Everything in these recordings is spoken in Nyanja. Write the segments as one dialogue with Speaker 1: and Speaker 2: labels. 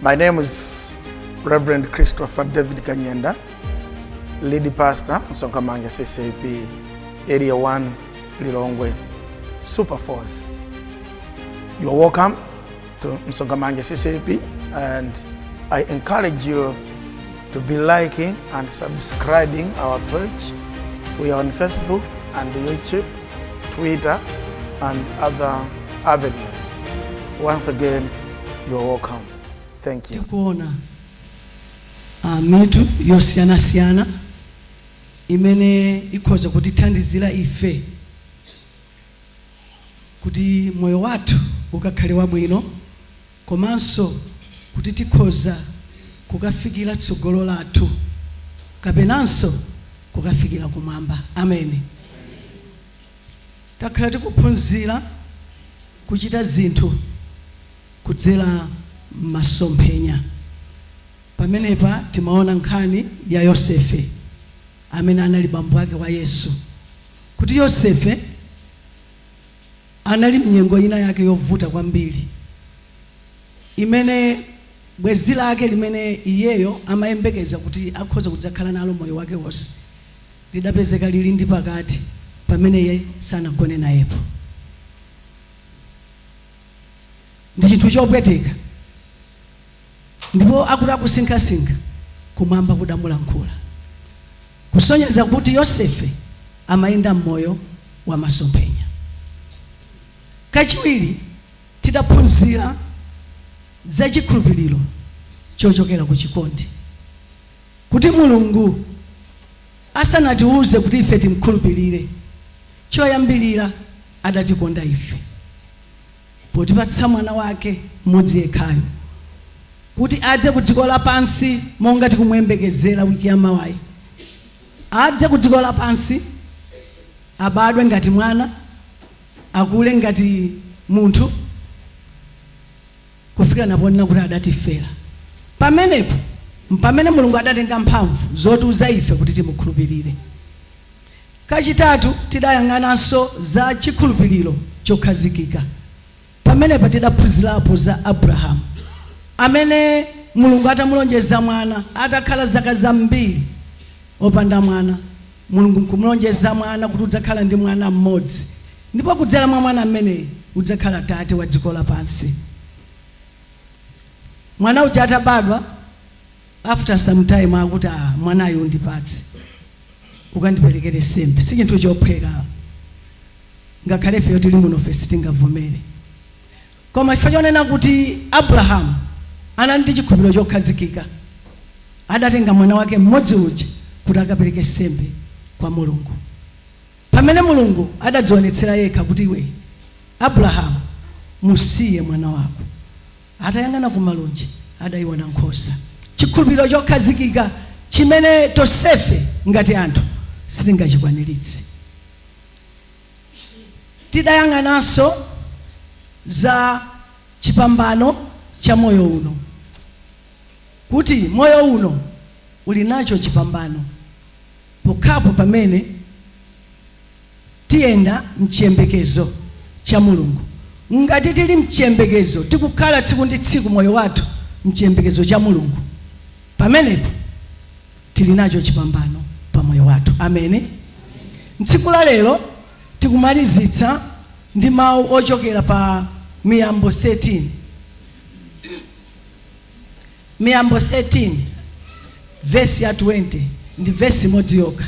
Speaker 1: My name is Reverend Christopher David Kanyenda, lead pastor, Sonkamanga CCP, Area 1, Lilongwe, Super Force. You are welcome to Msongamanga CCP and I encourage you to be liking and subscribing our page. We are on Facebook and YouTube, Twitter, and other avenues. Once again, you are welcome. Thank you. tikuona
Speaker 2: ah, mitu yosiyanasiyana imene ikhoza kutithandizira ife kuti moyo wathu ukakhale wabwino komanso kuti tikhoza kukafikira tsogolo lathu kapenanso kukafikira kumwamba. Ameni. Takhala tikuphunzira kuchita zinthu kudzera m'masomphenya. Pamenepa timaona nkhani ya Yosefe amene anali bambo ake wa Yesu kuti Yosefe. Anali m'nyengo inayake yovuta kwambiri imene bwenzi lake limene iyeyo amayembekeza kuti akhoza kudzakhala nalo moyo wake wonse, lidapezeka lili ndi pakati pamene iye sanagone nayepo. Ndi chinthu chopweteka. Ndipo akuti akusinkhasinkha, kumwamba kudamulankhula, kusonyeza kuti Yosefe amayenda m'moyo wa masomphenya. Kachiwiri, tidaphunzira za chikhulupiriro chochokera ku chikondi, kuti Mulungu asanatiuze kuti ife timkhulupirire, choyambirira adatikonda ife. potipatsa Mwana wake m'modzi yekhayo, kuti adze ku dziko lapansi monga tikumuyembekezera week ya mawayi, adze ku dziko lapansi, abadwe ngati mwana, akule ngati munthu, kufika naponena kuti adatifera. Pamenepo mpamene Mulungu adatenga mphamvu zotiuza ife kuti timukhulupirire. Kachitatu, tidayang'ananso za chikhulupiriro chokhazikika. Pamenepa tidaphunzirapo za Abrahamu, amene Mulungu atamulonjeza mwana, atakhala zaka zambiri opanda mwana, Mulungu nkumulonjeza mwana kuti udzakhala ndi mwana mmodzi, ndipo kudzera mwa mwana ameneyu udzakhala tate wa dziko lapansi. Mwana uja atabadwa. after some time akuti a ah, mwanayo undipatse ukandiperekere sembe si chinthu chophweka ngakhale ifeyo tili muno ife sitingavomere koma chifukwa chonena kuti abrahamu anali ndi chikhulupiriro chokhazikika adatenga mwana wake mmodzi uja kuti akapereke sembe kwa mulungu pamene mulungu adadzionetsera yekha kuti iwe abrahamu musiye mwana wako Atayang'ana kumalunje, adaiona nkhosa. Chikhulupiriro chokhazikika chimene tonsefe ngati anthu sitingachikwaniritse. Tidayang'ananso za chipambano cha moyo uno, kuti moyo uno uli nacho chipambano pokhapo pamene. Tiyenda mchiyembekezo cha Mulungu. Ngati tili mchiyembekezo, tikukhala tsiku ndi tsiku moyo wathu mchiyembekezo cha Mulungu, pamenepo tili nacho chipambano pa moyo wathu. Amen. Mtsiku la lero tikumalizitsa ndi mau ochokera pa Miyambo 13. Miyambo 13 vesi ya 20 ndi vesi imodzi yokha.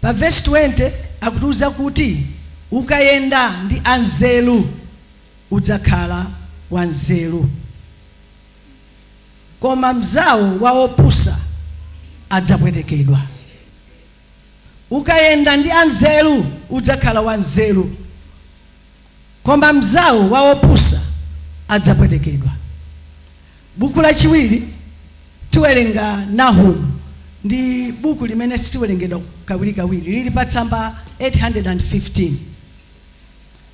Speaker 2: Pa vesi 20 akutiuza kuti ukayenda ndi anzeru udzakhala wanzeru, koma mnzawo wa opusa adzapwetekedwa. Ukayenda ndi anzeru udzakhala wanzeru. koma mnzawo wa opusa adzapwetekedwa. Buku lachiwiri tiwerenga Nahumu ndi buku limene sitiwerengedwa kawirikawiri lili pa tsamba 815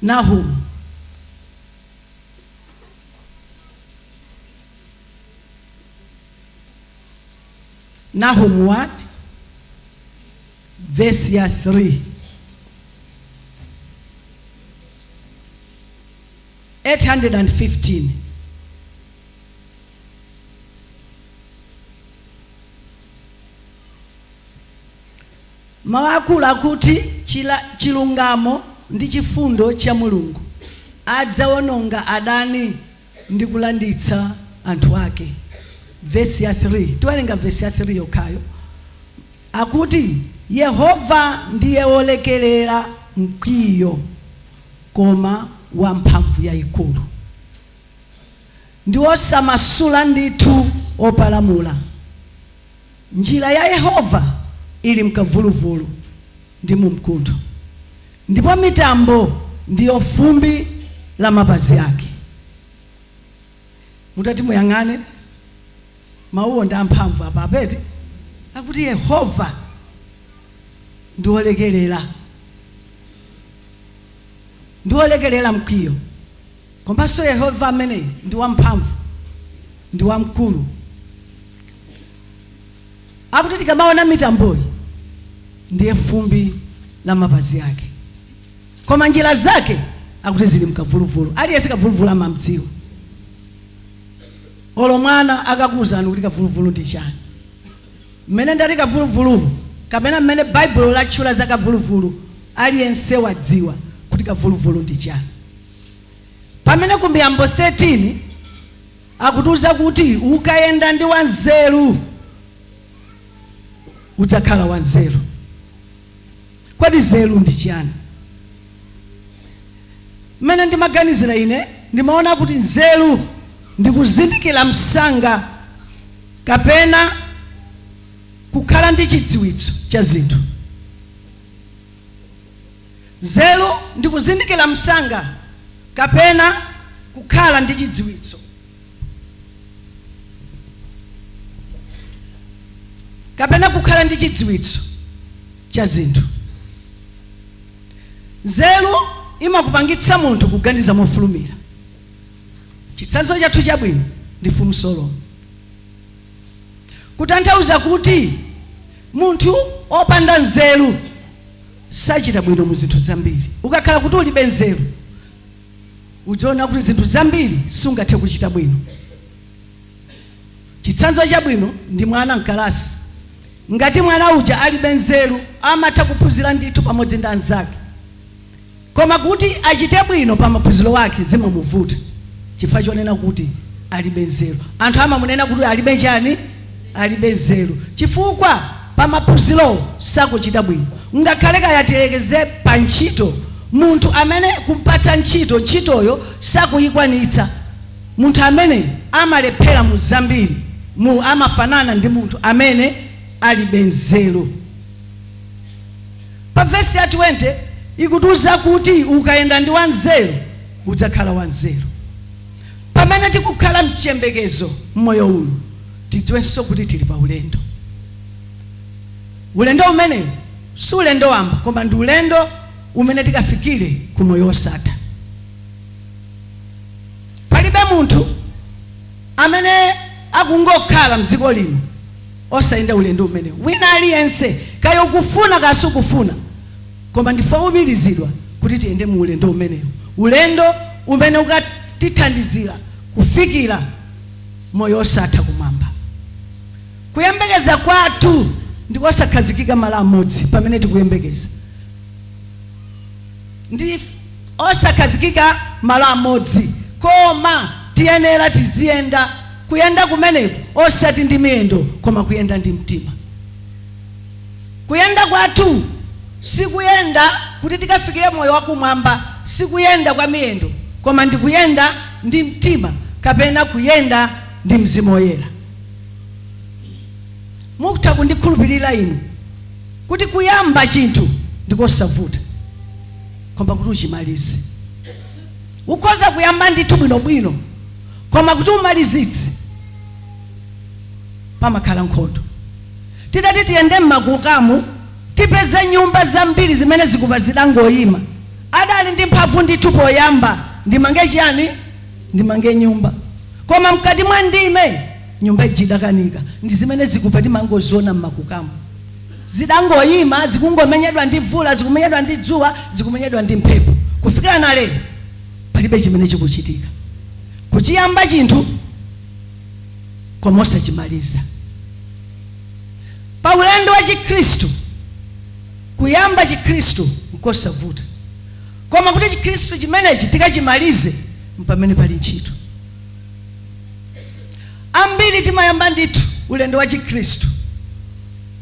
Speaker 2: Nahumu Nahumu 1 vesi ya 3. Eyiti handred andi fiftini. Mawu akulu akuti chilungamo ndi chifundo cha Mulungu adzawononga adani ndi kulanditsa anthu ake. Vesi ya 3, tiwerenga vesi ya 3 yokhayo. Akuti, Yehova ndiye wolekerera mkwiyo, koma wa mphamvu yaikulu, ndi wosamasula ndithu opalamula. Njira ya Yehova ili m'kavuluvulu ndi mu mkuntho, ndipo mitambo ndiyo fumbi la mapazi ake. Mutati muyang'ane, mawuwo ndi amphamvu pa, eti? Akuti Yehova ndi wolekerera, ndi wolekerera mkwiyo. Komanso Yehova ameneyu ndi wamphamvu, ndi wamkulu. Akuti tikamaona mitamboyi ndiye fumbi la mapazi ake. Koma njira zake akuti zili mkavuluvulu. Aliyense kavuluvulu amamdziwa. Olo mwana akakuuzani kuti kavuluvulu ndi chani. Mmene ndati kavuluvulu kapena mmene Baibulo latchula za kavuluvulu aliyense wadziwa kuti kavuluvulu ndi chani. Pamene ku Miyambo 13 akutiuza kuti ukayenda ndi wanzeru udzakhala wanzeru. Kodi nzeru ndi chiyani? Mmene ndimaganizira ine ndimaona kuti nzeru ndi kuzindikira msanga kapena kukhala ndi chidziwitso cha zinthu. nzeru ndi kuzindikira msanga kapena kukhala ndi chidziwitso kapena kukhala ndi chidziwitso cha zinthu nzeru imapangitsa munthu kuganiza mofulumira chitsanzo chathu chabwino ndi mfumu solomo kutanthauza kuti munthu opanda nzeru sachita bwino mu zinthu zambiri. Ukakhala kuti ulibe nzeru, udziona kuti zinthu zambiri sungathe kuchita bwino. Chitsanzo chabwino ndi mwana m'kalasi. Ngati mwana uja alibe nzeru, amatha kuphunzira ndithu pamodzi ndi anzake. Koma kuti achite bwino pa maphunziro ake zimamuvuta chifukwa chonena kuti alibe nzeru. Anthu amamunena kuti alibe chani? alibe nzeru chifukwa pa maphunzirowo sakuchita bwino ngakhale kaya tiyerekeze pa ntchito munthu amene kumpatsa ntchito ntchitoyo sakuyikwanitsa munthu amene amalephera mu zambiri mu amafanana ndi munthu amene alibe nzeru pa vesi ya 20 ikutiuza kuti ukayenda ndi wanzeru udzakhala wanzeru Pamene tikukhala mchiyembekezo mmoyo uno, tidziwenso kuti tili pa ulendo. Ulendo umenewu si ulendo wamba koma ndi ulendo umene tikafikire ku moyo wosatha. Palibe munthu amene akungokhala mdziko lino osayenda ulendo umenewu. Wina aliyense, kaya ukufuna kaya sukufuna, Koma ndife oumirizidwa kuti tiyende mu ulendo umenewu, ulendo umene ukatithandizira kufikira moyo wosatha kumwamba. Kuyembekeza kwathu ndi kosakhazikika malo amodzi pamene tikuyembekeza. Ndife osakhazikika malo amodzi, koma tiyenera tiziyenda, kuyenda kumeneko osati ndi miyendo koma kuyenda ndi mtima. Kuyenda kwathu si kuyenda kuti tikafikire moyo wa kumwamba, si kuyenda kwa miyendo, koma ndi kuyenda ndi mtima kapena kuyenda ndi Mzimu Woyera. Mutha kundikhulupirira inu kuti kuyamba chinthu ndi kosavuta, koma kuti uchimalize. Ukhoza kuyamba ndithu bwino bwino, koma kuti umalizitse pamakhala nkhondo. Titati tiyende mmakukamu tipeze nyumba zambiri zimene zikupa zidangoima. Adali ndi mphamvu ndithu poyamba ndimange chiyani? Ndimange nyumba. Koma mkati mwa ndime nyumba ija idakanika. Ndi zimene zikupa timangoziona mmakukamu. Zidangoima zikungomenyedwa ndi mvula, zikumenyedwa ndi dzuwa, zikumenyedwa ndi mphepo. Kufikira nalero palibe chimene chikuchitika. Kuchiyamba chinthu. koma osachimaliza pa ulendo wa chikhristu kuyamba chikhristu nkosavuta koma kuti chikhristu chimenechi tikachimalize mpamene pali ntchito ambiri timayamba ndithu ulendo wa chikhristu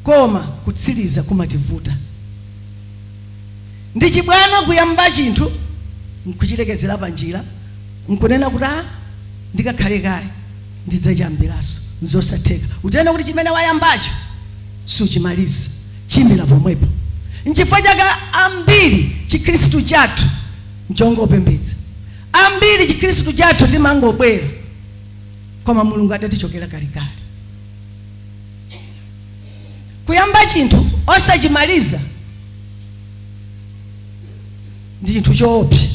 Speaker 2: koma kutsiriza kumativuta Ndi chibwana kuyamba chinthu nkuchilekezera panjira nkunena kuti a ndikakhale kaye ndidzachiyambiranso nzosatheka udziwe kuti chimene wayambacho suchimaliza chimira pomwepo nchifukwa chake ambiri chikhristu chathu nchongopembedza ambiri chikhristu chathu timangobwera koma mulungu adatichokera kalekale kuyamba chinthu osachimaliza ndi chinthu choopsa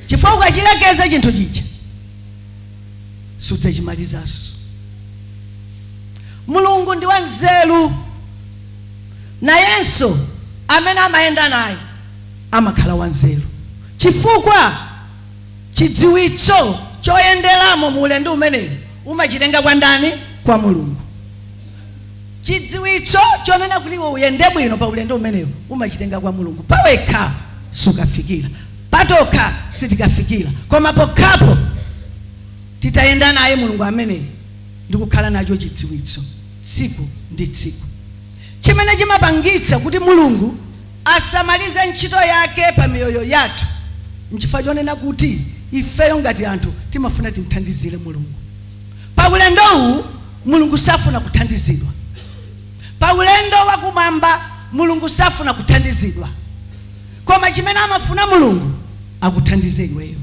Speaker 2: chifukwa ukachilekeza chinthu chija sudzachimalizanso mulungu ndi wanzeru nayenso amene amayenda naye amakhala wanzeru chifukwa chidziwitso choyenderamo mu ulendo umenewu umachitenga kwa ndani kwa mulungu Chidziwitso chonena kuti iwe uyende bwino pa ulendo umenewu umachitenga kwa Mulungu. Pawekha sukafikira, patokha sitikafikira, koma pokhapo titayenda naye Mulungu ameneyu ndi kukhala nacho chidziwitso tsiku ndi tsiku chimene chimapangitsa kuti Mulungu asamalize ntchito yake pa miyoyo yathu nchifukwa chonena kuti ifeyo ngati anthu timafuna timthandizire Mulungu. Pa ulendowu, Mulungu safuna kuthandizidwa. Pa ulendo wa kumwamba, Mulungu safuna kuthandizidwa. Koma chimene amafuna Mulungu akuthandize iweyo.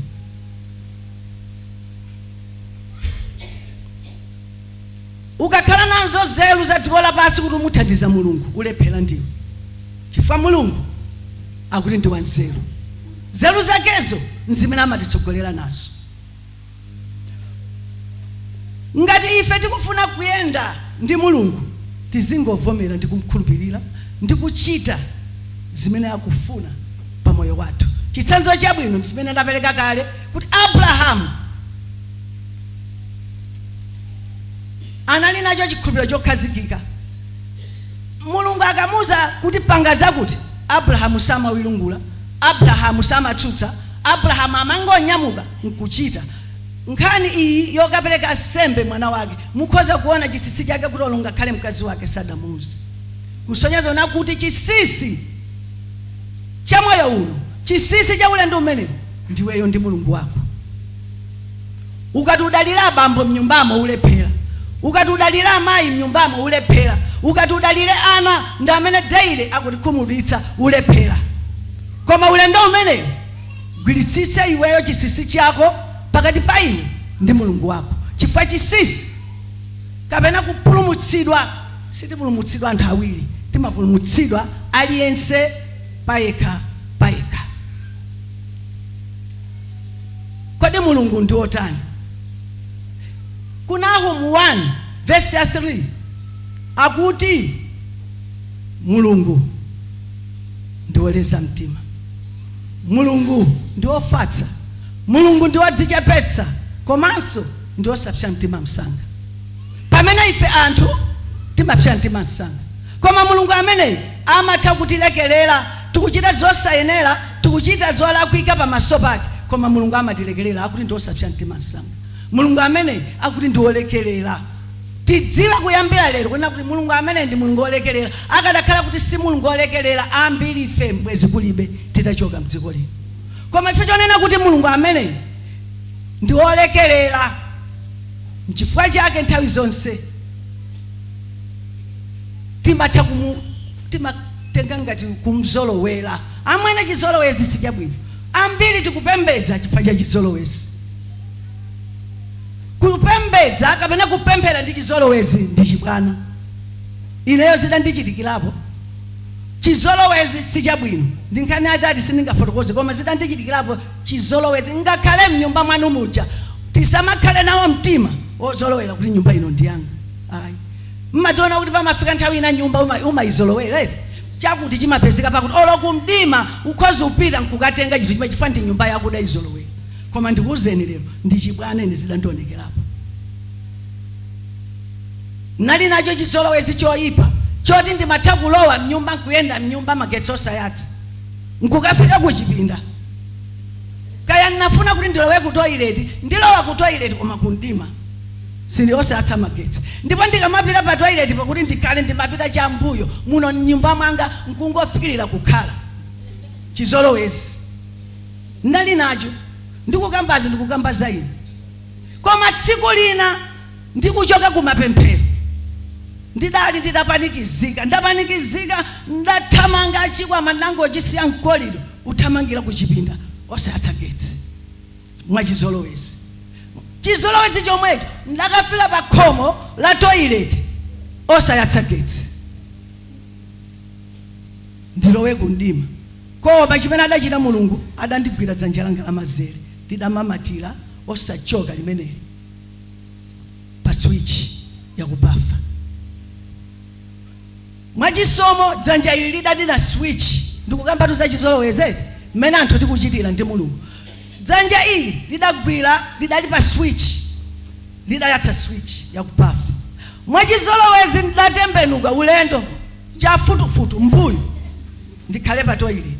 Speaker 2: Ukakhala nazo nzeru za dziko lapansi kuti umuthandiza Mulungu, ulephera ndiwe, chifukwa Mulungu akuti ndi wanzeru. Nzeru zakezo nzimene amatitsogolera nazo. Ngati ife tikufuna kuyenda ndi Mulungu, tizingovomera ndi kumkhulupirira ndi kuchita zimene akufuna pa moyo wathu. Chitsanzo chabwino ndi chimene ndapereka kale kuti Abrahamu anali nacho chikhulupiriro chokhazikika. Mulungu akamuuza kuti panga zakuti, Abrahamu samawiringula Abrahamu samatsutsa, Abrahamu amangonyamuka nkuchita. Nkhani iyi yokapereka nsembe mwana wake, mukhoza kuona chisisi chake kuti olo ngakhale mkazi wake sadamuuze. Kusonyeza kuona kuti chisisi cha moyo uno, chisisi cha ulendo umenewu, ndiweyo ndi Mulungu wako. ukati udalire abambo mnyumbamo ulephera ukati udalire amayi mnyumbamo ulephera ukati udalire ana ndi amene daily akutikhumudwitsa ulephera koma ulendo umenewu gwiritsitsa iweyo chisisi chako pakati pa iwe ndi mulungu wako chifukwa chisisi kapena kupulumutsidwa sitipulumutsidwa anthu awiri timapulumutsidwa aliyense payekha payekha Kodi Mulungu ndi wotani? Ku Nahumu 1 vesi ya 3 akuti Mulungu ndi woleza mtima, Mulungu ndi wofatsa, Mulungu ndi wodzichepetsa komanso ndi wosapsa mtima msanga. Pamene ife anthu timapsa mtima msanga koma Mulungu ameneyu amatha kutilekerera tikuchita zosayenera, tikuchita zolakwika pamaso pake, koma Mulungu amatilekerera, akuti ndi osapsa mtima msanga. Mulungu ameneyi akuti ndi wolekerera. Tidziwe kuyambira lero kunena kuti Mulungu ameneyi ndi Mulungu wolekerera. Akadakhala kuti si Mulungu wolekerera, ambiri ife bwezi kulibe titachoka m'dziko lino. Koma chifukwa chonena kuti Mulungu ameneyi ndi wolekerera, n'chifukwa chake nthawi zonse. timatha kumu timatenga ngati kumzolowera amwene chizolowezi sichabwino ambiri tikupembedza chifukwa cha chizolowezi kupembedza kapena kupemphera ndi chizolowezi ndi chibwana ineyo zidandichitikirapo chizolowezi sichabwino ndi nkhani atati sindingafotokoze koma zidandichitikirapo chizolowezi ngakhale mnyumba mwanu muja tisamakhale nawo mtima wozolowera kuti nyumba ino ndiyanga ayi Mmaziona kuti pamafika nthawi ina nyumba uma umaizolowera eti? Chakuti chimapezeka pakuti olo kumdima ukhoza kupita nkukatenga chinthu chimene chifukwa ndi nyumba yako udaizolowera. Koma ndikuuzeni lero ndi chibwana ine zidandionekerapo. Nnali nacho chizolowezi choipa choti ndimatha kulowa mnyumba nkuyenda mnyumba magetsi osayatsa nkukafika kuchipinda kaya nnafuna kuti ndilowe kutoilet ndilowa kutoilet koma kumdima. Sindi osayatsa magetsi. Ndipo ndikamapita pa toilet po kuti ndikhale ndimapita cha m'mbuyo, muno m'nyumba mwanga nkungofikilira kukhala. Chizolowezi ndinali nacho. Ndikukambazi ndikukamba za ine. Koma tsiku lina ndikuchoka ku mapemphero, ndidali nditapanikizika, ndapanikizika, ndathamanga chikwama ndinangochisiya mkolido, kuthamangira ku chipinda osayatsa getsi. mwachizolowezi chizolowezi chomwecho ndakafika pa khomo la toilet osayatsa getsi ndilowe kumdima koma chimene adachita mulungu adandigwira dzanja langa lamazere lidamamatira osachoka limeneli pa switch yakubafa Mwa chisomo dzanja ili lidadina switch. Ndikukambatu za chizolowezi eti, mmene anthu tikuchitira ndi Mulungu. Dzanja ili lidagwira, lidali pa switch, lidayatsa switch ya ku bafa. Mwa chizolowezi ndidatembenuka ulendo, chafutufutu, m'mbuyo, ndikhale pa toilet.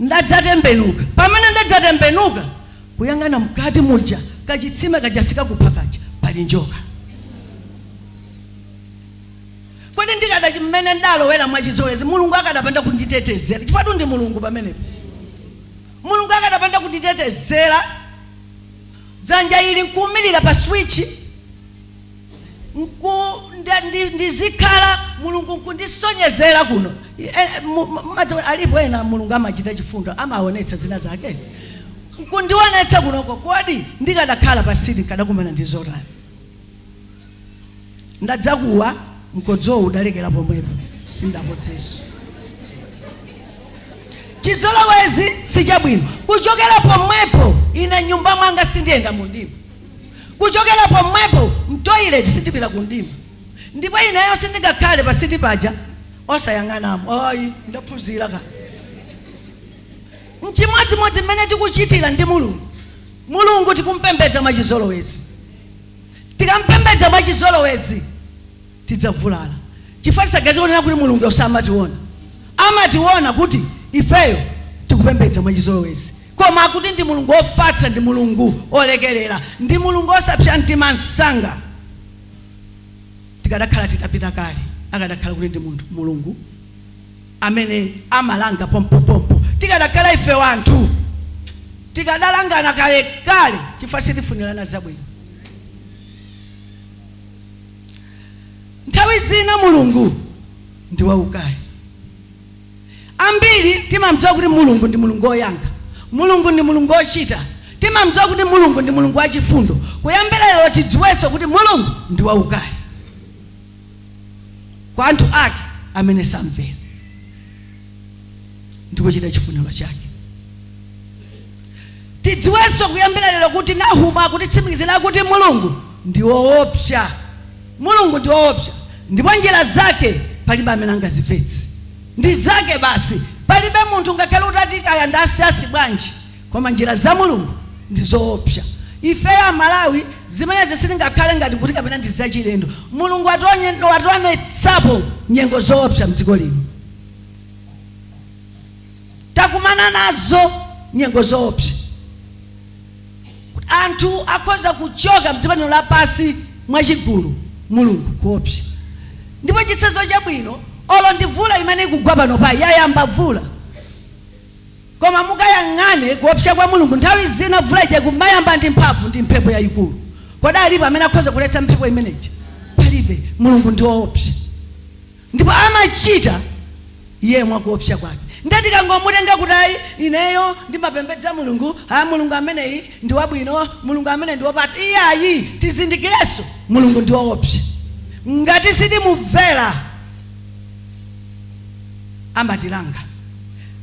Speaker 2: Ndadzatembenuka. Pamene ndadzatembenuka kuyang'ana mkati muja, kachitsime kaja sikakupha kaja, pali njoka. Kodi ndikada, mmene ndalowera mwachizolowezi, Mulungu akadapanda kunditetezera, chifukwatu ndi Mulungu pamenepo, Mulungu akadapanda kunditetezera, dzanja ili nkuumirira pa switchi, nku, nde, ndi, ndizikhala Mulungu nkundisonyezera kuno. E, mu- mu- mumadziwa alipo ena Mulungu amachita chifundo, amaonetsa zina zake. Nkundionetsa kunoko kodi ndikadakhala pa seat nkadakumana ndi zotani? Ndadzakuwa mkodzowo udalekera pomwepo. Sindakodzenso. Chizolowezi si chabwino. Kuchokera pomwepo ine nyumba mwanga sindiyenda mumdima. Kuchokera pomwepo mtoilet sindipita kumdima ndipo ineyo sindingakhale pa seat paja osayang'anamo ayi ndaphunzira kale. Nchimodzimodzi mmene tikuchitira ndi Mulungu. Mulungu tikumpembedza mwachizolowezi. Tikampembedza mwachizolowezi tidzavulala chifukwa tisaganize kunena kuti Mulunguyo samationa. Amationa kuti ifeyo tikupembedza mwachizolowezi. Koma kuti ndi Mulungu wofatsa ndi Mulungu wolekerera. Ndi Mulungu wosapsa mtima msanga. Tikadakhala titapita kale akadakhala kuti ndi Mulungu amene amalanga pompopompo. Tikadakhala ife wanthu tikadalangana kalekale chifukwa sitifunirana zabwino. nthawi zina mulungu ndi waukali ambiri timamdziwa kuti mulungu ndi mulungu woyankha mulungu ndi mulungu wochita timamdziwa kuti mulungu ndi mulungu wachifundo kuyambira lero tidziwenso kuti mulungu ndi waukali kwa anthu ake amene samvera ndi kuchita chifuniro chake tidziwenso kuyambira lero kuti nahumu akutitsimikizira kuti mulungu ndi woopsa mulungu ndi woopsa ndipo njira zake palibe amene angazimvetse ndi zake basi palibe munthu ngakhale utati kaya ndi wasayansi bwanji koma njira za mulungu ndi zoopsa ifeyo amalawi zimenezi sizingakhale ngati kuti kapena ndi zachilendo mulungu wationye- wationetsapo nyengo zoopsa mdziko lino takumana nazo nyengo zoopsa anthu akhoza kuchoka mdziko lino lapansi mwachigulu mulungu kuopsa ndipo chitsanzo chabwino olo ndi vula imene ikugwa panopa yayamba vula koma mukayang'ane kuopsa kwa mulungu nthawi zina vula ija ikumayamba ndi mphamvu ndi mphepo yayikulu kodi alipo amene akhoza kuletsa mphepo imeneyi palibe mulungu ndi woopsa Ndipo amachita Iye mwa kuopsa kwake. Ndiye tikangomutenga kuti, Ayi, ineyo ndimapembedza Mulungu, a, Mulungu ameneyi ndi wabwino, Mulungu ameneyi ndi wopatsa. Iyayi, tizindikirenso, Mulungu ndi woopsa. Ngati sitimumvera, amatilanga.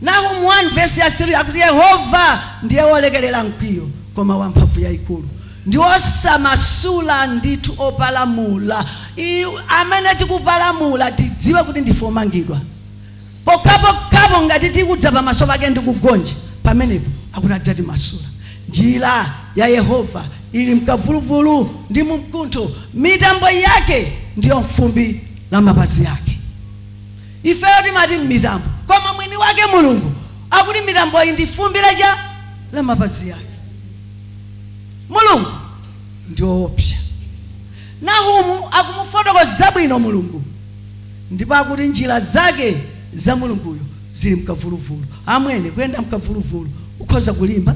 Speaker 2: Nahumu 1 vesi ya 3 akuti, Yehova ndiye wolekerera mkwiyo, koma wa mphamvu yaikulu. ndi osamasula ndithu opalamula amene tikupalamula tidziwe kuti ndife omangidwa pokhapokha ngati tikudza pamaso pake ndi kugonja pamenepo akuti adzatimasula njira ya yehova ili mkavuluvulu ndi mumkuntho mitambo yake ndiyo mfumbi la mapazi ake ifeyo timati m'mitambo koma mwini wake mulungu akuti mitamboyi ndi fumbi chabe la mapazi ake mulungu ndi woopsa nahumu akumufotokoza bwino mulungu ndipo akuti njira zake za mulunguyo zili mkavuluvulu amwene kuyenda mkavuluvulu ukhoza kulimba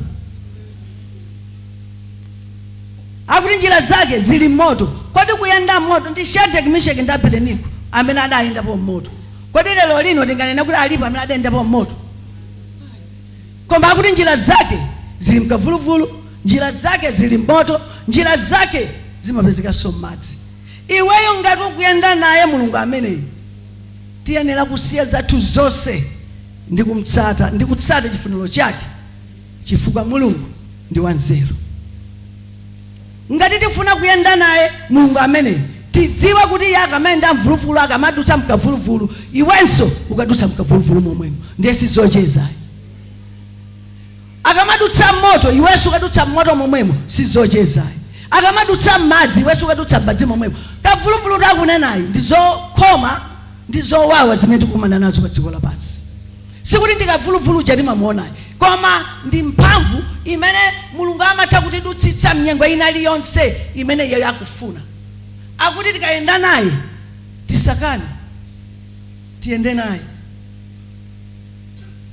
Speaker 2: akuti njira zake zili mmoto kodi kuyenda mmoto ndi shadreki misheki ndi abedenigo amene adayendapo mmoto kodi lero lino tinganene kuti alipo amene adayendapo mmoto Koma akuti njira zake zili m'kavuluvulu, njira zake zili m'moto, njira zake zimapezekanso m'madzi. Iweyo ngati ukuyenda naye Mulungu ameneyu, tiyenera kusiya zathu zonse ndi kumtsata ndi kutsata chifuniro chake chifukwa Mulungu ndi wanzeru. Ngati tifuna kuyenda naye Mulungu ameneyu, tidziwe kuti iye akamayenda mvuluvulu, akamadutsa mkavuluvulu, iwenso ukadutsa mkavuluvulu momwemo. Ndiye sizocheza ayi. Akamadutsa mmoto, iwenso ukadutsa mmoto momwemo, sizocheza ayi. Akamadutsa mmadzi, iwenso ukadutsa mmadzi momwemo. Kavuluvulu takunenayu ndi zokhoma ndi zowawa zimene tikukumana nazo padziko lapansi. Sikuti ndi kavuluvulu uja timamuona ayi, koma ndi mphamvu imene Mulungu amatha kutidutsitsa mnyengo inaliyonse imene iyeyo akufuna. Akuti tikayenda naye tisakane, tiyende naye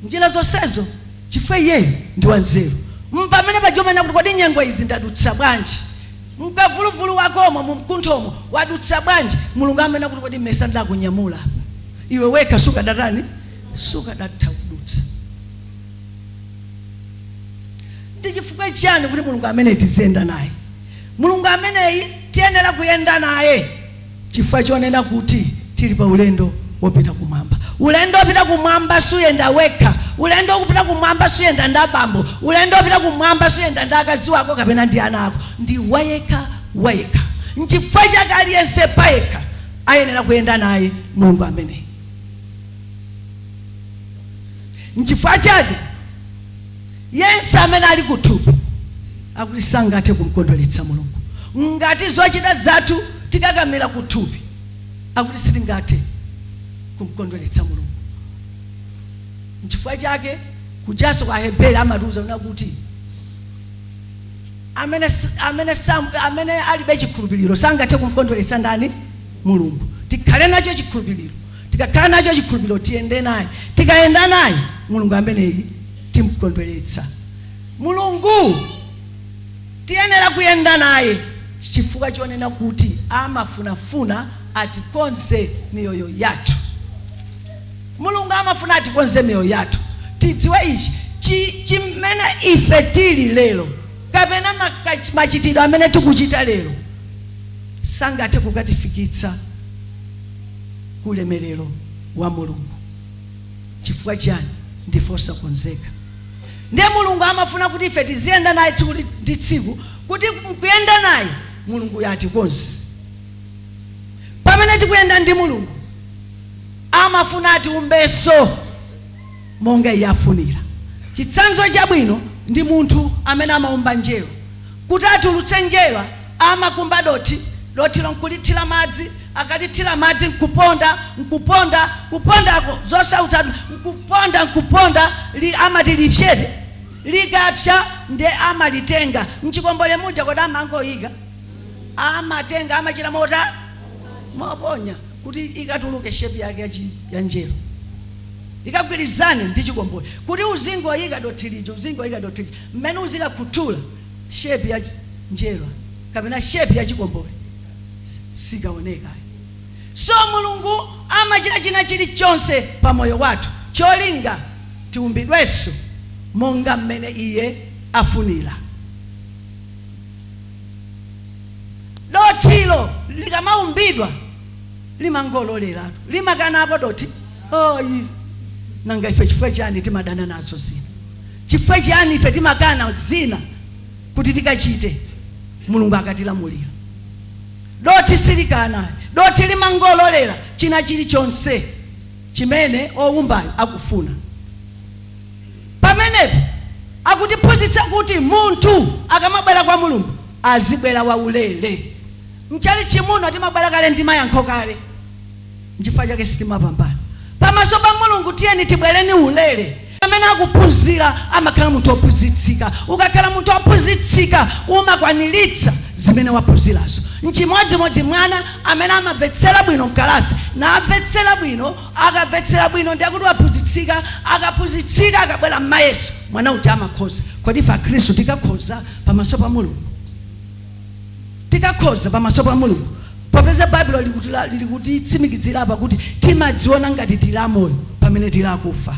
Speaker 2: njira zonsezo chifukwa iyeyo ndi wanzeru. Mpamene paja umanena kuti kodi nyengo izi ndadutsa bwanji? Mkavuluvulu wakomo, mu mkunthomo wadutsa bwanji? Mulungu amanena kuti kodi mmesa ndakunyamula apa? Iwe wekha sukadatani? sukadatha kudutsa. Ndi chifukwa chiyani kuti Mulungu ameneyi tiziyenda naye? Mulungu ameneyi tiyenera kuyenda naye chifukwa chonena kuti tili pa ulendo wopita kumwamba. Ulendo wopita kumwamba suyenda wekha. Ulendo wopita kumwamba suyenda ndi abambo. Ulendo wopita kumwamba suyenda ndi akazi wako kapena ndi ana ako. Ndi wayekha wayekha. Nchifukwa chake aliyense payekha ayenera kuyenda naye Mulungu ameneyi. nchifukwa chake yense amene ali kuthupi akuti sangathe kumkondweretsa mulungu ngati zochita zathu tikakamira kuthupi akuti sitingathe kumkondweretsa mulungu nchifukwa chake kujaso kwa heberi amatiuza kunena kuti amene, s- amene, sam, amene alibe chikhulupiriro sangathe kumkondweretsa ndani mulungu tikhale nacho chikhulupiriro Tikakhala nacho chikhulupiriro, tiyende naye. Tikayenda naye, Mulungu ameneyi timkondweretsa. Mulungu tiyenera kuyenda naye chifukwa chonena kuti amafunafuna atikonze miyoyo yathu. Mulungu amafuna atikonze miyoyo yathu. Tidziwe ichi, chi, chimene ife tili lero, kapena makach, machitidwe amene tikuchita lero, sangathe kukatifikitsa ku ulemerero wa mulungu chifukwa chiyani ndife osakonzeka ndiye mulungu amafuna kuti ife tiziyenda naye tsiku li- ndi tsiku kuti mkuyenda naye mulunguyo atikonze pamene tikuyenda ndi mulungu amafuna atiumbenso monga iye afunira. Chitsanzo chabwino ndi munthu amene amaumba njerwa. Kuti atulutse njerwa, amakumba dothi, dothilo n'kulithira madzi. Akalithira madzi n'kuponda, n'kuponda, kupondako zosautsa n'kuponda, n'kuponda, li, amati lipsere. Likapsa nde amalitenga. M'chikombole muja kodi amangoika? Amatenga. Amachita motani? Moponya. kuti ikatuluke shape yake ya chi ya njerwa ikagwirizane ndi chikombole kuti uzingowayika dothi lija uzingowayika dothi lija mmene uzikakhuthula shape ya chi- njerwa kapena shape ya chikombole sikaoneka so mulungu amachita china chilichonse pa moyo wathu cholinga tiumbidwenso monga mmene iye afunira dothilo likamaumbidwa limangololeratu limakanapo dothi ayi nanga ife chifukwa chiyani timadana nazo zina chifukwa chiyani ife timakana zina kuti tikachite mulungu akatilamulira dothi silikana dothi limangololera china chilichonse chimene owumbayo akufuna Pamenepa akutiphunzitsa kuti munthu akamabwera kwa Mulungu azibwera waulere. Mchalitchi muno timabwera kale ndi mayankho kale nchifukwa chake sitimapambana. Pamaso pa Mulungu tiyeni tibwereni ulere. Amene akuphunzira amakhala munthu ophunzitsika. Ukakhala munthu ophunzitsika umakwaniritsa zimene waphunzirazo. Nchimodzimodzi mwana amene amamvetsera bwino mkalasi namvetsera bwino Akamvetsera bwino ndi akuti waphunzitsika, akaphunzitsika akabwera mmayeso mwana uja amakhoza. Kodi ife akhristu tikakhoza pamaso pa Mulungu? Tikakhoza pamaso pa Mulungu popeza Baibulo likutitsimikizira apa kuti timadziona ngati tili amoyo pamene tili akufa.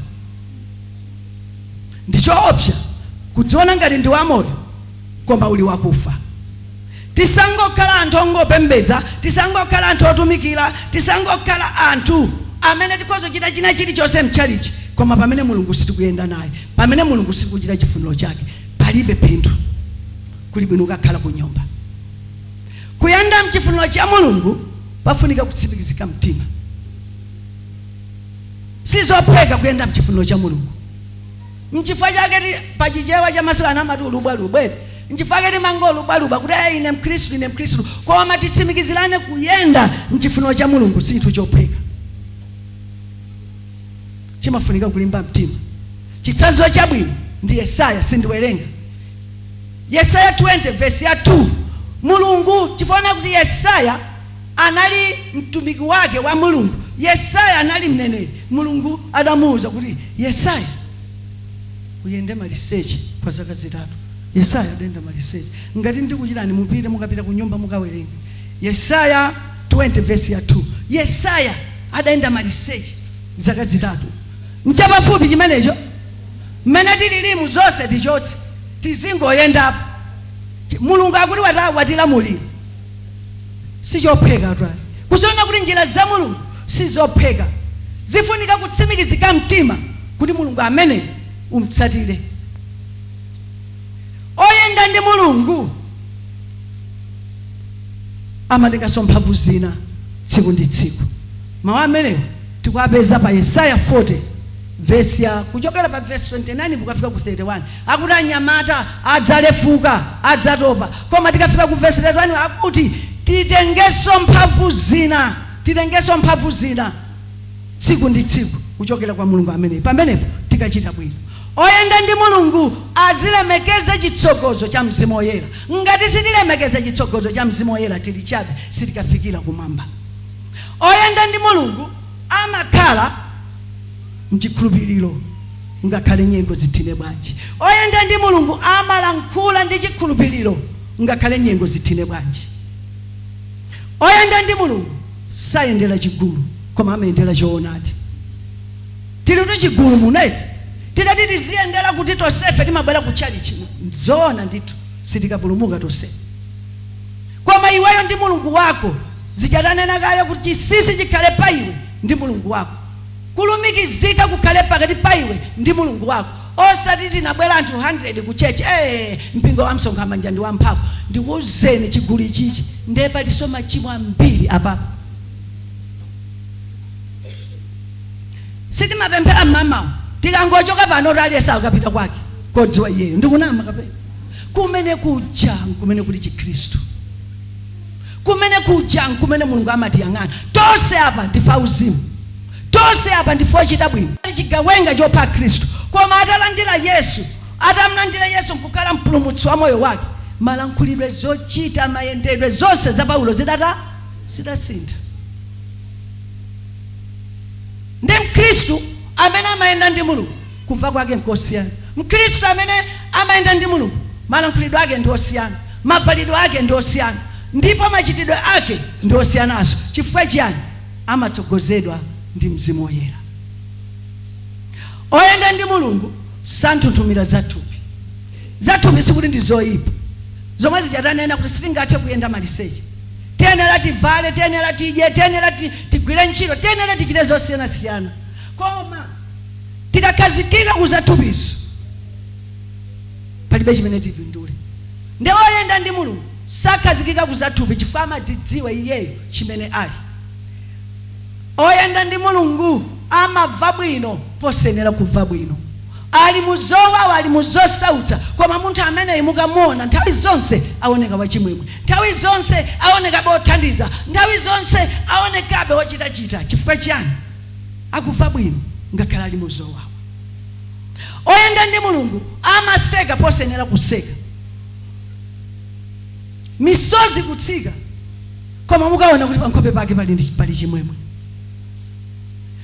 Speaker 2: Ndi choopsa kudziona ngati ndi wamoyo koma uli wakufa tisangokhala anthu ongopembedza tisangokhala anthu otumikira tisangokhala anthu amene tikhoza chita china chilichonse mtchalichi koma pamene mulungu sitikuyenda naye pamene mulungu sitikuchita chifuniro chake palibe phindu kuli bwino ukakhala ku nyumba kuyenda mchifuniro cha mulungu pafunika kutsimikizika mtima sizophweka kuyenda mchifuniro cha mulungu Nchifukwa chake ti, pa Chichewa cha masiku ano amati ulubwalubwa eti. Nchifukwa chake timangolubwalubwa kuti ee ine Mkhristu, ine Mkhristu. Koma titsimikizirane kuyenda m'chifuniro cha Mulungu sichinthu chophweka. Chimafunika kulimba mtima. Chitsanzo chabwino ndi Yesaya, sindiwerenga. Yesaya 20 vesi ya 2, Mulungu, chifukwa anaona kuti Yesaya. anali mtumiki wake wa Mulungu. Yesaya anali mneneri. Mulungu adamuuza kuti, Yesaya, uyende maliseche kwa zaka zitatu. Yesaya adayenda maliseche. Ngati ndikuchitayi mupite mukapita ku nyumba mukawerenge. Yesaya 20 vesi ya 2. Yesaya adayenda maliseche zaka zitatu. Nchapafupi chimenecho? Mmene tililimu zonse tichotse tizingoyendapo. Ti- Mulungu akuti wata- watilamulira. sichophweka twali kuziona kuti njira za mulungu sizophweka zifunika kutsimikizika mtima kuti mulungu amene umtsatire oyenda ndi mulungu amatenganso mphamvu zina tsiku ndi tsiku mawu amenewo tikuwapeza pa yesaya 40 vesi ya kuchokera pa vesi 29 kukafika ku 31 Akuti anyamata adzalefuka, adzatopa. Koma tikafika ku vesi 31 akuti titengenso mphamvu zina tsiku ndi tsiku kuchokera kwa Mulungu ameneyu. Pamenepo tikachita bwino. Oyenda ndi Mulungu azilemekeza chitsogozo cha Mzimu Woyera. Ngati sitilemekeza chitsogozo cha Mzimu Woyera tili chabe, sitikafikira kumwamba. Oyenda ndi Mulungu amakhala. mchikhulupiriro ngakhale nyengo zithine bwanji. Oyenda ndi Mulungu amalankhula ndi chikhulupiriro ngakhale nyengo zithine bwanji. Oyenda ndi Mulungu sayendera chigulu koma amayendera choonadi. Tilitu chigulu muno eti. Titati tiziyendera kuti tonsefe timabwera ku tchalitchi zoona ndithu sitikapulumuka tonse. Koma iweyo ndi Mulungu wako zija tanena kale kuti chinsinsi chikhale pa iwe ndi Mulungu wako. Kulumikizika kukhale pakati pa iwe ndi Mulungu wako osati tinabwera anthu 100 ku church ee mpingo wa msonkha manja ndi wamphamvu ndikuuzeni chigulu ichichi nde patinso machimo ambiri apapa. Sitimapemphera mmamawa tikangochoka panotu aliyense akapita kwake kodziwa iyeyo ndikunama kapena? Kumene kuja nkumene kuli chikhristu. kumene kuja nkumene mulungu amatiyang'ana tose apa ndife auzimu tose apa ndife ochita bwino ali chigawenga chopha akhristu koma atalandira yesu atamlandira yesu nkukhala mpulumutsi wa moyo wake malankhulidwe zochita mayendedwe zonse za paulo zidasintha ndi mkhristu amene amayenda ndi mulungu Kumva kwake nkosiyana. Mkhristu amene amayenda ndi Mulungu malankhulidwe ake ndi osiyana, mabvalidwe ake ndi osiyana ndipo machitidwe ake ndi osiyananso. Chifukwa chiyani? Amatsogozedwa ndi Mzimu Woyera. Oyenda ndi Mulungu santhunthumira za thupi. Za thupi sikuti ndi zoipa. Zomwe zija tanena kuti sitingathe kuyenda maliseche. Tiyenera tibvale, tiyenera tidye, tiyenera tigwire ntchito, tiyenera tichite zosiyanasiyana. Koma. tikakhazikika ku zathupizo palibe chimene tipindule nde woyenda ndi mulungu sakhazikika ku zathupi chifukwa amadzidziwa iyeyo chimene ali oyenda ndi mulungu amava bwino posenera kuva bwino ali muzowawa ali muzosautsa koma munthu ameneyi mukamuona nthawi zonse aoneka wachimwemwe nthawi zonse aonekabe othandiza nthawi zonse aonekabe wochitachita chifukwa chiyani akuva bwino ngakhale ali mu zowawa. Oyenda ndi Mulungu amaseka posenera kuseka, misozi kutsika, koma mukaona kuti pankhope pake pali ndi- pali chimwemwe.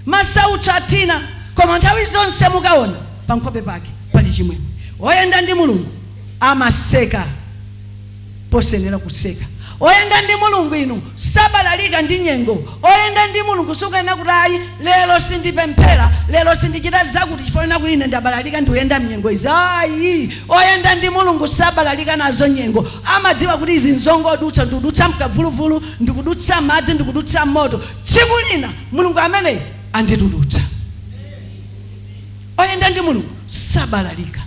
Speaker 2: Masautso athina, koma nthawi zonse mukaona pankhope pake pali chimwemwe. Oyenda ndi Mulungu amaseka posenera kuseka oyenda ndi mulungu inu sabalalika ndi nyengo oyenda ndi mulungu sukanena kuti ayi lero sindipemphera lero sindichita zakuti chifukwa chonena kuti ine ndabalalika ndikuyenda mnyengo izi ayi oyenda ndi mulungu sabalalika nazo nyengo amadziwa kuti izi nzongodutsa ndikudutsa mkavuluvulu ndikudutsa madzi ndikudutsa moto tsiku lina mulungu ameneyi anditulutsa oyenda ndi mulungu sabalalika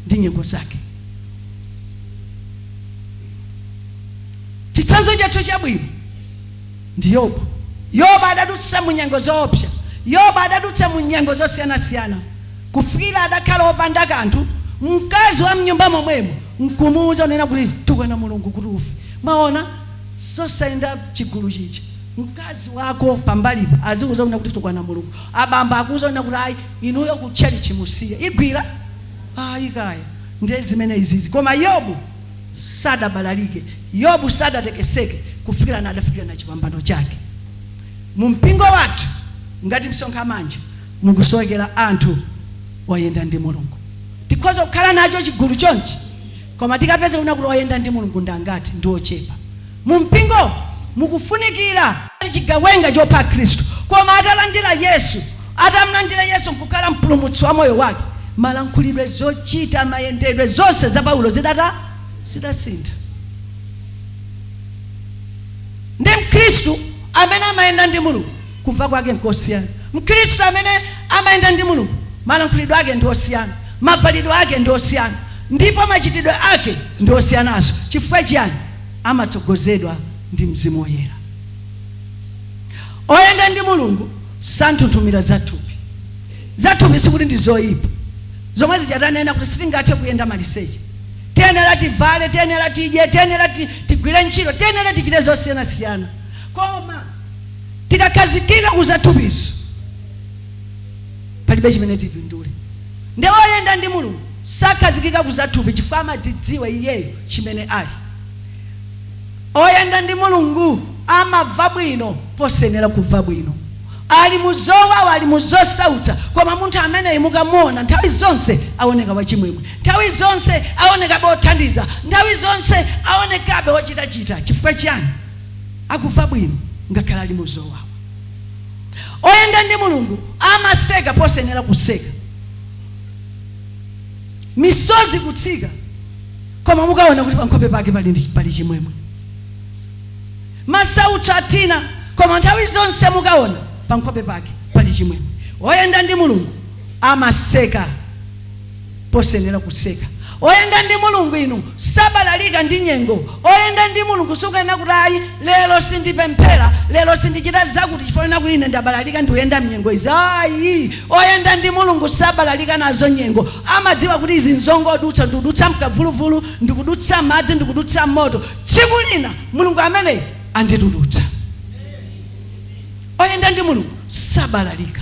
Speaker 2: ndi nyengo zake chitsanzo chathu chabwino ndi yobu yobu adadutsa mu nyengo zoopsa yobu adadutsa mu nyengo zosiyanasiyana kufikira adakhala opanda kanthu mkazi wa mnyumba momwemo nkumuuza unena kuti tukwana mulungu kuti ufe mwaona zosayenda chigulu chija mkazi wako pambalipo azikuuza unena kuti tukwana mulungu abambo akuuza unena kuti ayi inuyo ku church musiye igwira ayi kaya ndiye zimene izizi koma yobu sadabalalike yobu sadatekeseke kufikira na adafikira na chipambano chake mu mpingo wathu ngati msonkhamanja mukusowekera anthu oyenda ndi mulungu tikhoza kukhala nacho chigulu chonchi koma tikapeza unena kuti oyenda ndi mulungu ndangati ndi ochepa Mu mpingo mukufunikira chigawenga chopha akhristu, koma atalandira Yesu, atamlandira Yesu nkukhala mpulumutsi wa moyo wake, malankhulidwe, zochita, mayendedwe, zonse za Paulo zidata, zidasintha. Ndi mkhristu amene amayenda ndi Mulungu, kumva kwake nkosiyana. Mkhristu amene amayenda ndi Mulungu, malankhulidwe ake ndi osiyana, mavalidwe ake ndi osiyana, ndipo machitidwe ake ndi osiyananso. Chifukwa chiyani? amatsogozedwa ndi Mzimu Woyera. Oyenda ndi Mulungu santhunthumira zathupi. Zathupi sikuti ndi zoyipa. Zomwe zija tanena kuti sitingathe kuyenda maliseche. Tiyenera tivale, tiyenera tidye, tiyenera tigwire ntchito, tiyenera tichite zosiyanasiyana. Koma tikakhazikika ku zathupizo, palibe chimene tipindule nde oyenda ndi mulungu sakhazikika ku zathupi chifukwa amadzidziwa iyeyo chimene ali oyenda ndi mulungu amava bwino posenera kuva bwino ali muzowawa ali muzosautsa koma munthu ameneyi mukamuona nthawi zonse aoneka wachimwemwe nthawi zonse aonekabe othandiza nthawi zonse aonekabe ochitachita chifukwa chiyani akuva bwino ngakhale ali muzowawa oyenda ndi mulungu amaseka posenera kuseka misozi kutsika koma mukaona kuti pankhope pake pali ndi- pali chimwemwe masautso athina koma nthawi zonse mukaona pankhope pake pali chimwemwe oyenda ndi mulungu amaseka posenera kuseka oyenda ndi mulungu iwe sabalalika ndi nyengo oyenda ndi mulungu sukuyenera kuti ayi lero sindipemphera lero sindichita zakuti chifukwa kuti ine ndabalalika ndikuyenda mnyengo izi ayi oyenda ndi mulungu sabalalika nazo nyengo amadziwa kuti izi nzongodutsa ndikudutsa mkavuluvulu ndikudutsa mmadzi ndikudutsa mmoto tsiku lina mulungu ameneyi anditulutsa oyenda ndi mulungu sabalalika